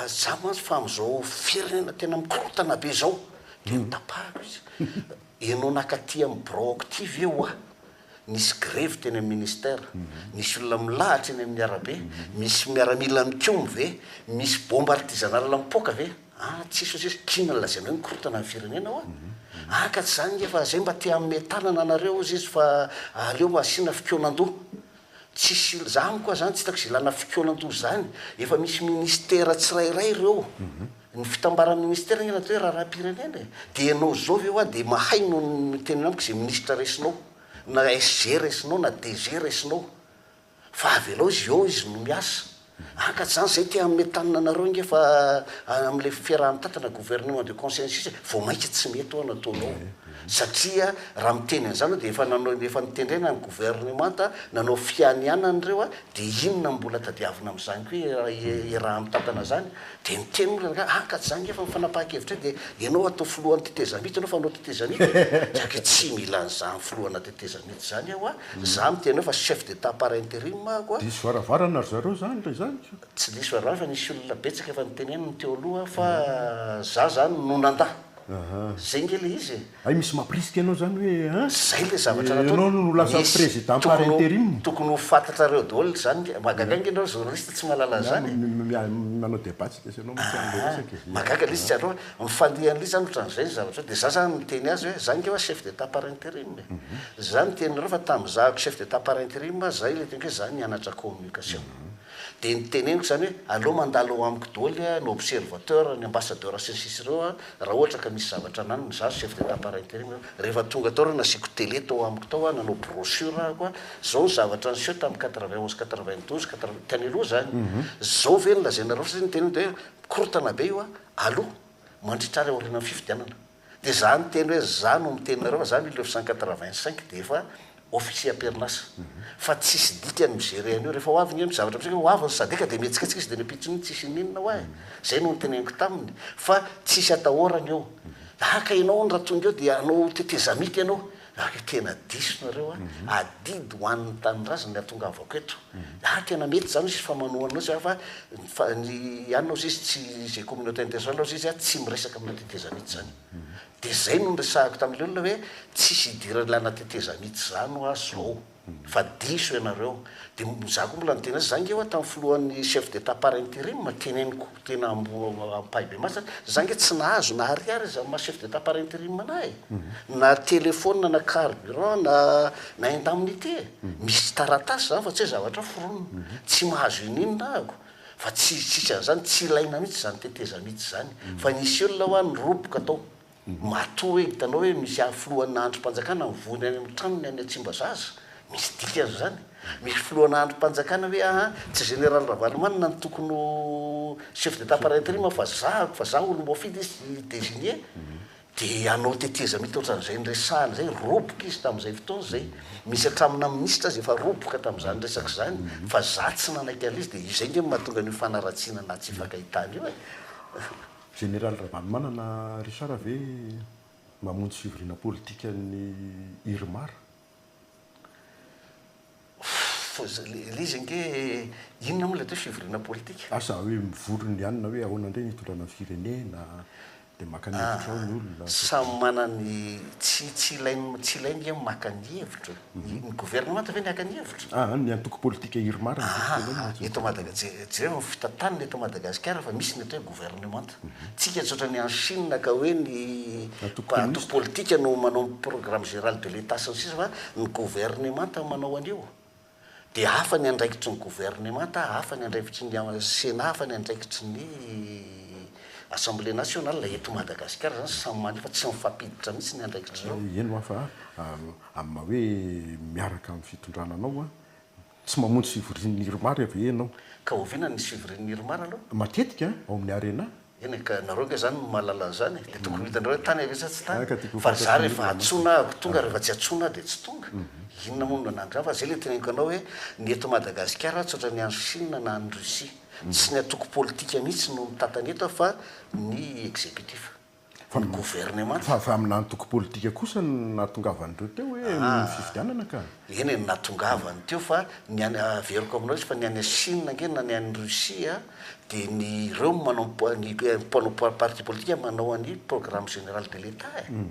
aza mantsy fa amin'izao firenena tena mikorontana be izao, dia notapahako izy, ianao naka aty amin'ny birao ako ity ve hoa? nisy grevy teny amin'ny ministera, nisy olona milahatra eny amin'ny arabe, misy miaramila mikomy ve, misy bomba artisanale mipoaka ve? ah tsisy hoy izy, k'inona no lazainao hoe mikorontana ny firenena hoa? ah ka tsy izany nge fa izay mba te hanome tanana anareo hozy izy fa aleo asiana fikonan-doha, Tsisy olo zany koa zany tsy hitako izay ilana fikoana toy izany. Efa misy ministera tsirairay ireo. Ny fitambaran'ny ministera angamba atao hoe raharaham-pirenena e. Dia ianao izao ve hoa dia mahay no miteny amiko izay ministra raisinao, na SG raisinao na DG raisinao. Fa avelao izy eo izy no miasa. Anga zany zay te hanome tanana anareo ange fa amin'ilay fiaraha-mitatana gouvernement de consensus vao maika tsy mety ho'a nataonao. Satria raha miteny an'izany anao dia efa nanao efa nitendrena ny gouvernemanta nanao fianianana ireo dia inona no mbola tadiavina amin'izany koa iaraha-mitatana izany? Dia niteny ny olona angaha, ah ka tsy zany ngefa ny fanapahan-kevitray dia ianao hatao filohan'ny tetezamita ianao fa hanao tetezamita e! Dia ange tsy mila an'izany filohana tetezamita izany aho a! Za miteny anao fa chef d'Etat par interim aho a! Diso varavarana ry zareo zany re zany ka! Tsy diso varavarana fa nisy olona betsaka efa niteneniny teo aloha fa za zany no nandà! Zay nge le izy e! Hay misy mampirisika anao zany hoe an? Zay le zavatra nataony. Ianao no lasa président par interim. Tokony ho fantatrareo daholo zany ka. Mahagaga ange enao journaliste tsy mahalala an'zany e. Manao debat tsy dia tsy anao mihitsy anle resaka e. Mahagaga le izy tsy andro hoe mifandeha anle zany otran'zay ny zavatra hoe de za zany miteny azy hoe za nge oa chef d'état par interim e. Za miteny anareo fa tamzahako chef d'état par interim zay le teny hoe za nianatra communication. Dia ny teneniko izany hoe aleo mandalo ao amiko doly ny observateur, ny ambassadeur sy ny sisa ireo an, raha ohatra ka misy zavatra ananana, izaho chef d'état par interim eo, rehefa tonga tao ireo nasiako tele tao amiko tao an, nanao brochure ahako an, izao ny zavatra niseho tamin'ny quatre-vingt onze, quatre-vingt douze, quatre-vingt, tany aloha izany, izao ve no lazainareo satria ny teneniko dia hoe mikorontana be io an, alou mandritra ary aorianan'ny fifidianana. Dia za niteny hoe za no miteny nareo fa za mille neuf cent quatre vingt cinq dia efa officier am-perinasa fa tsisy dikany mi-gerer an'io rehefa ho avy ny zavatra amintsika hoe ho avy ny sadec dia mihetsiketsika izy dia miampitsy mihitsy tsisy ininona ho ahy zay no niteneniko taminy fa tsisy atahorana io haka ianao hono raha tonga eo dia hanao tetezamita ianao Raha tena diso nareo a, adidy ho an' ny tanindrazana ny ahatonga avako eto. Ary tena mety izany izy fa manohana anao izy a, fa fa ny anona ozy izy tsy izay communauté internationale ozy izy a tsy miresaka amina teteza mihitsy izany. Dia izay no niresahako tamin'ilay olona hoe tsisy hidiran'ilay ana teteza mihitsy izany hoa zao. fa diso ianareo de za ko mbola niteny azy za nge oa tam filohan'ny chef d'etat par interim teneniko tena ampahibemaso za nge tsy nahazo na ariary aza am maha chef d'etat par interim anah e na telephone na carburant na na indemnité misy taratasy zany fa tsy oe zavatra foronina tsy mahazo ininona ah ako fa tsy tsisy anzany tsy ilaina mitsy zany tetezamita zany fa nisy olona oa niroboka tao Matoa hoe hitanao hoe misy ahy filohana andrim-panjakana mivory any amin'ny tranony any Tsimbazaza, misy dikany izany? Misy filohana andrim-panjakana hoe aah tsy Général Ravalomanana no tokony ho chef d'Etat par interim fa zahako fa za olo voafidy izy i désigné dia hanao tetezamita ohatran'izay niresahana izay, roboka izy tamin'izay fotoana izay, misy hatramin'ny na minisitra aza efa roboka tamin'izany resaka izany fa za tsy nanaiky an'ilay izy dia izay nge no mahatonga an'io fanaratsiana na tsy hifankahitana io e! Jeneraly Ravalomanana Richard ve mamonjy fivoriana politika ny Irmar? Ilay izy ange inona moa ilay atao hoe fivoriana politika? Asa hoe mivory ny anona hoe ahoana indray ny hitondrana ny firenena, dia maka ny hevitra ao ny olona. Samy manana ny, tsy tsy ilainy tsy ilainy ve ny maka ny hevitra e? Ny governemanta ve niaka ny hevitra? Aa, ny antoko politika Irma raha ny tokony tenenina aza. Aa, eto Madagasi-, je-, jereo ny fitantanana eto Madagasikara fa misy ny atao hoe governemanta. Tsika tsy ohatran'ny any Chine ka hoe ny Antoko antoko politika no manao ny programme géral de l'Etat sy ny sisa fa ny governemanta no manao an'io. Dia hafa ny andraikitry ny governemanta, hafa ny andraikitry ny Sénat, hafa ny andraikitry ny Assemblée nationale. Eto Madagasikara izany samy mania fa tsy mifampiditra mihitsy ny andraikitr'ireo. Eny, ho afa a. Amin'ny maha hoe miaraka amin'ny fitondrana anao an! Tsy mamonjy fivorian'ny Irmar ve ianao? Ka oviana ny fivorian'ny Irmar aloha? Matetika ao amin'ny Arena. Eny e, ka nareo ange zany no mahalala an'zany e, de tokony ho hitanareo hoe tany ave sa tsy tany? Fa za rehefa antsoina aho tonga, rehefa tsy antsoina aho de tsy tonga. Inona moa no nanangra ahy? Fa zay le teneniko anao hoe ny eto Madagasikara aho tsy ohatran'ny any Chine na any Russie. Tsy ny antoko politika mihitsy no mitatana eto aho fa ny executif. Fa ny governemanta. Fa avy amina antoko politika kosa no nahatongavan'ireo teo hoe noho ny fifidianana ka. Eny e, ny nahatongavany teo fa ny any, averiko aminao izy fa ny any Chine ange na ny any Russie dia ny ireo manao ny mpanao parti politika manao an'i programme général de l'Etat e.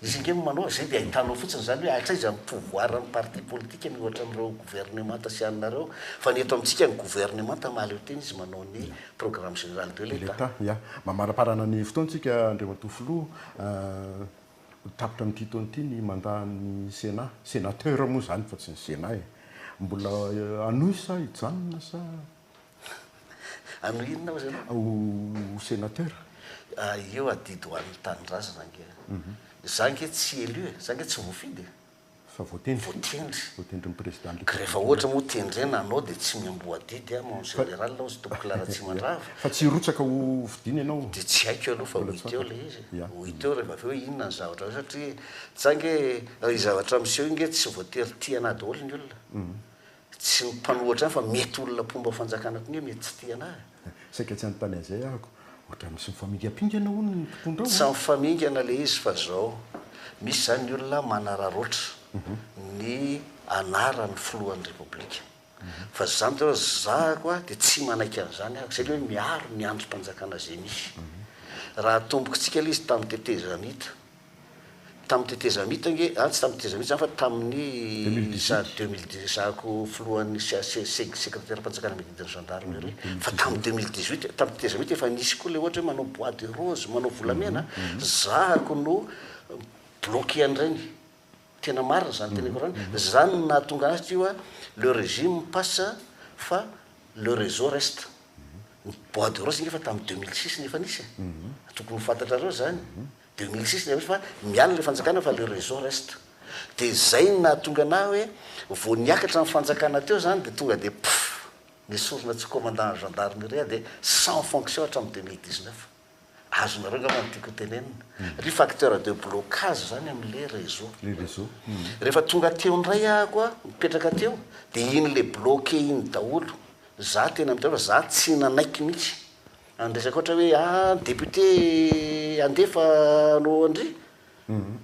Izy ange no manao izay dia ahitanao fotsiny izany hoe hatraiza ny pouvoir ny parti politique miohatra amin'ireo gouvernemanta sy anareo fa ny eto amintsika ny gouvernemanta mahaleo tena izy manao ny programme général de l'etat. Ya, mamariparana ny fotoantsika Andriamatoa Filoha, ho tapitra amin'ity taona ity ny mandat-n'ny Sénat, Sénateur moa izany fa tsy ny Sénat e! Mbola hanohy sa hijanona sa? Hanao inona hozy ianao? Ho sénateur. Io adidy ho an'ny tanindrazana ange. Za ange tsy élu e, za ange tsy voafidy e. Fa voatendry. Voatendry. Voatendrin'ny président de. Ka rehefa ohatra moa tendrena anao dia tsy miamboadidy aho mon général hozy tompoko Laratsimandrava. Fa tsy hirotsaka ho fidiana ianao? Dia tsy haiko aloha fa ho hita eo ilay izy e. Ho hita eo rehefa avy eo inona ny zavatra eo satria za ange io zavatra miseho io ange tsy voatery tiana daholo ny olona. Tsy ny mpanohatra ihany fa mety olona mpomba ao fanjakana koa nge mety tsy tia anah e. Saika tsy anontany an'izay ahako. Ohatran'ny tsy mifamingampingana hono ny mpitondra ao an. Tsy mifamingana le izy fa zao, misy zany ny olona manararaotra ny anaran'ny filohan'ny repoblika. Fa zah mitsy aloha zahako a de tsy manaiky an'izany ahako zay le hoe miaro ny andrim-panjakana ze misy. Raha atombokitsika le izy tamin'ny tetezamita. Tamin'ny tetezamita ange, ah tsy tamin'ny tetezamita izany fa tamin'ny izaho 2018 izahako filohan'ny CACSEG, sekreteram-panjakana mididy ny gendarmes ireny, fa tamin'ny 2018, tamin'ny tetezamita efa nisy koa ilay ohatra hoe manao bois de rose, manao volamena, zahako no bloquer an'ireny. Tena marina izany teneniko ireny. Izany no nahatonga azy teo hoe le régime passe fa le réseau reste. Ny bois de rose ange efa tamin'ny 2006 no efa nisy e. Tokony ho fantatrareo izany. Deux mille six ilay izy fa miala ilay fanjakana fa le réseau reste. Dia izay no nahatonga anah hoe vao niakatra ny fanjakana teo izany dia tonga dia puff nesorina tsy commandant ny gendarmerie dia sans fonction hatramin'ny deux mille dix neuf. Azonareo angamba ny tiako hotenenina. Ry facteur de blocage izany amin'ilay réseau. Le réseau. Rehefa tonga teo indray aho koa nipetraka teo dia iny le bloqué iny daholo. Izaho teny amin'ny toerana fa izaho tsy nanaiky mihitsy. Any resaka ohatra hoe ah ny député handefa anao an-dry,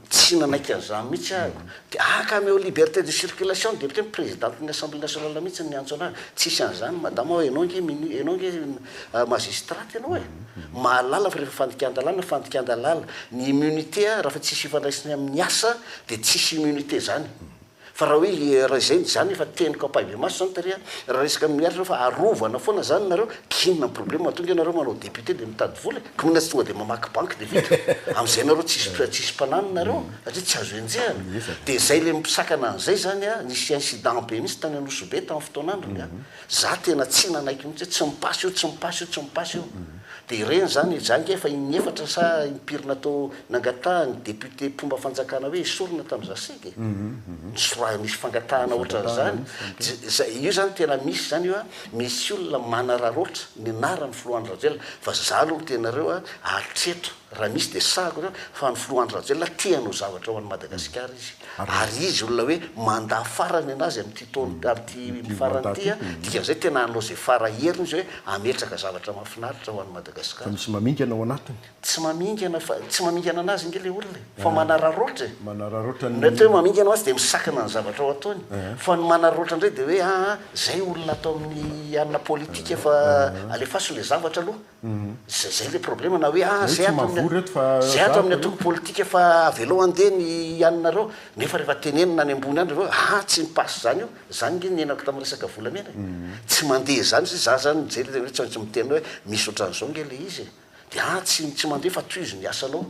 tsy nanaiky an'izany mihitsy aho. Dia haka an'io liberté de circulation ny député, ny présidente-n'ny Assemblée nationale mihitsy no niantso an'ahy hoe tsisy an'izany madama ô, ianao ange mini-, ianao ange magistrate ianao e! Mahalala fa rehefa fandikan-dalàna, fandikan-dalàna. Ny immunité raha fa tsisy ifandraisany amin'ny asa dia tsisy immunité izany. Fa raha hoe le raha izay zany efa teniko ampahibemaso zany tary a, raha resaka miaritra reo fa arovana foana zany nareo, kinona problème mahatonga anareo manao député de mitady vola e, kinona tsy tonga de mamaky banky de vita, amzay nareo tsisy tsisy mpanahy nareo satria tsy azo enjehana, de zay le misakana anzay zany a, nisy incident be mihitsy tany Anosibe tam fotoanandrony a. Za tena tsy nanaiky mihitsy hoe tsy mipasy io, tsy mipasy io, tsy mipasy io. Dia ireny izany i Jang efa inefatra sa impiry natao nangatahan'ny député mpomba fanjakana hoe esorina tamin'ny Zaseg e. Nisoraha nisy fangatahana ohatran'izany. Io izany tena misy izany io a, misy olona manararoatra ny anaran'ny filoha Andry Rajoelina. Fa za aloha miteny anareo a, hatreto Raha misy dia sahako izany fa ny filoha Andry Rajoelina te hanao zavatra ho an'i Madagasikara izy ary izy olona hoe mandat farany anazy amin'ity taona amin'ity farany ity a, dikan'izay tena hanao izay fara heriny izy hoe hametraka zavatra mahafinaritra ho an'i Madagasikara. Fa misy mamingana ao anatiny? Tsy mamingana fa tsy mamingana anazy ange ilay olona e, fa manararaotra e. Manararaotra ny. Mety hoe mamingana ho azy dia misakana ny zavatra ho ataony fa ny manararaotra indray dia hoe aa izay olona ato amin'ny hanina politika fa alefaso ilay zavatra aloha. Zay zay le problema na hoe ah zay ato amin'ny zay ato amin'ny antoko politika fa avelao handeha ny haninareo nefa rehefa tenenina any ambony any ry reo ah tsy mi passe zany io zany nge niainako tamin'ny resaka volamena e tsy mandeha zany zay za zany mijery le hoe tsy maintsy miteny hoe misy otran'izao nge le izy e de ah tsy tsy mandeha fa tohizo ny asanao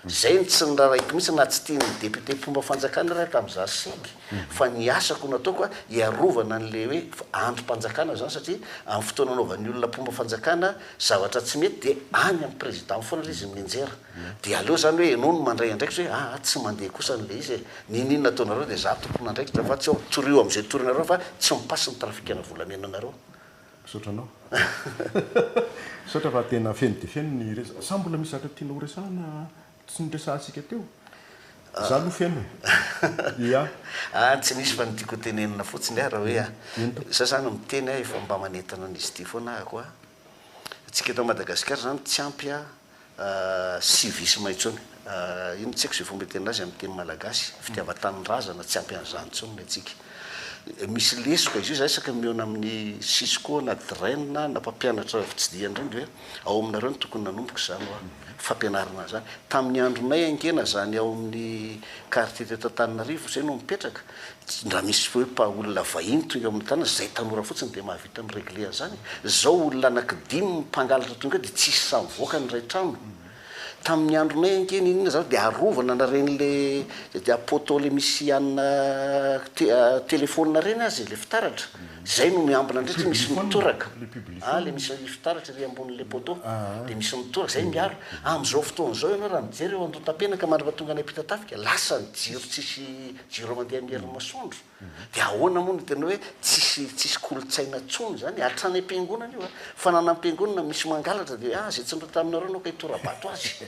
Izay no tsy niraraiko mihitsy na tsy tian'ny député mpomba fanjakana ary aho tamin'izaho seg fa ny asako no nataoko a, hiarovana an'ilay hoe andrim-panjakana izany satria amin'ny fotoana anaovan'ny olona mpomba fanjakana zavatra tsy mety dia any amin'ny président foana ilay izy no mianjera. Dia aleo izany hoe ianao no mandray andraikitra hoe aa tsy mandeha kosa an'ilay izy e, n'inon'inona ataonareo dia izaho tompon'andraikitra fa tsy ao, torio amin'izay torinareo fa tsy mi-passe ny trafic-na volamena anareo. Misaotra anao. Misaotra fa tena feno dia feno ny resaka. Sa mbola misy zavatra tianao horesahana tsy noresahantsika teo? Izaho aloha feno e. Ia? Ah, tsy misy fa ny tiako hotenenina fotsiny aho raha hoe a, izaho izany miteny aho efa mba manentana an'izy ity foana ahako a, antsika eto Madagasikara izany tsy ampy a, Civisme intsony. Inona tsy haiko izay fomba itenena azy amin'ny teny malagasy. Fitiavan-tanindrazana, tsy ampy an'izany intsony ny antsika. Misy lesoka izy io, izaho isaka mihaona amin'ny Cisco na Dren na mpampianatra fitsidihana ireny dia hoe ao aminareo no tokony nanomboka izany hoa. Fampianarana an'izany. Tamin'ny andronay haingena izany ao amin'ny quartier teto Antananarivo izay no mipetraka. Ndra misy fo hoe pas olona vahiny tonga eo amin'ny tanana izay tanora fotsiny dia mahavita mi-regler an'izany. Izao olona anaky dimy mpangalatra tonga eo dia tsisy sahy mivoaka ny iray trano. Tamin'ny andronay ange n'inona izany dia arovana na ireny le dia poteau le misy hanina telephone ireny aza ilay fitaratra. Izay no miambina indray satria misy mitoraka. Ah le misy fitaratra ery ambonin'ilay poteau dia misy mitoraka izay miaro. Amin'izao fotoana izao ianao raha mijery eo Andohatapenaka mandra-pahatonganay Ampitatafika lasa ny jiro tsisy Jirao mandeha amin'ny herin'ny masoandro. Dia ahoana moa no tena hoe tsisy tsisy kolontsaina intsony izany? Hatrany am-piangonana io a! Fananam-piangonana misy mangalatra dia ah, izay tsy nireo taminareo ianao ka hitora-bato azy.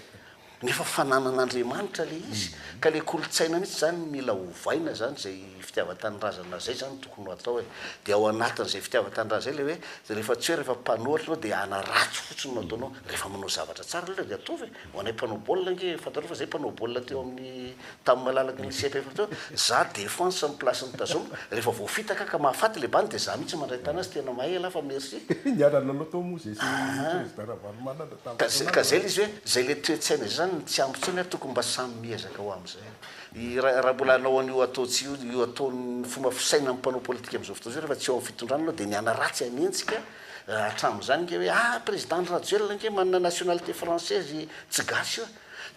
Nefa fananan'Andriamanitra ilay izy. Ka ilay kolontsaina mihitsy izany mila ovaina izany, izay fitiavan-tanindrazana izay izany no tokony ho atao e. Dia ao anatin'izay fitiavan-tanindrazana izay ilay hoe, rehefa tsy hoe rehefa mpanohatra ianao dia hanaratsy fotsiny no ataonao. Rehefa manao zavatra tsara aloha ilay izy dia ataovy e. Ho anay mpanao baolina ange, fantarao fa zay mpanao baolina teo amin'ny tamin'ny malalaky ny CFF teo hoe za defense amin'ny place ny tazomina, rehefa voafitaka ka mahafaty le bany de za mihitsy mandray tana azy, tena mahay ialahy fa merci. Niara-nanao tao moa zay sy président Ravalomanana tamin'ny fotoana azy. Ka zay le izy hoe zay le toe-tsaina zay zany no tsy ampy intsony ary tokony mba samy miezaka ho amin'izay. I ra raha mbola hanao an'io atao tsy io, io ataon'ny fomba fisainan'ny mpanao politika amin'izao fotoana izao rehefa tsy eo amin'ny fitondrana ianao de ny hanaratsy hanenjika, Hatramin'izany ange hoe ah président ndry Rajoelina ange manana nationalité française i tsy gasy io a!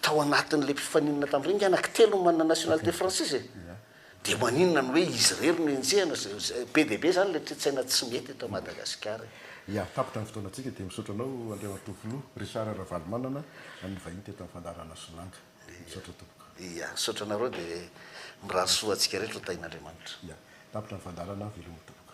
tao anatin'ilay mpifaninana tamin'ireny nge anaky telo no manana nationalité française e! dia maninona no hoe izy irery no enjehina? be dia be izany ilay toe-tsaina tsy mety eto Madagasikara e! Ya, tapitra ny fotoanantsika dia misaotra anao Andriamatoa Filoha Richard Ravalomanana an'ny vahiny teto amin'ny fandaharana Solanga. Misaotra tompoko. Ya, misaotra anareo dia mirary soa ho antsika rehetra ho tahin'Andriamanitra. Ya, tapitra ny fandaharana, veloma tompoko.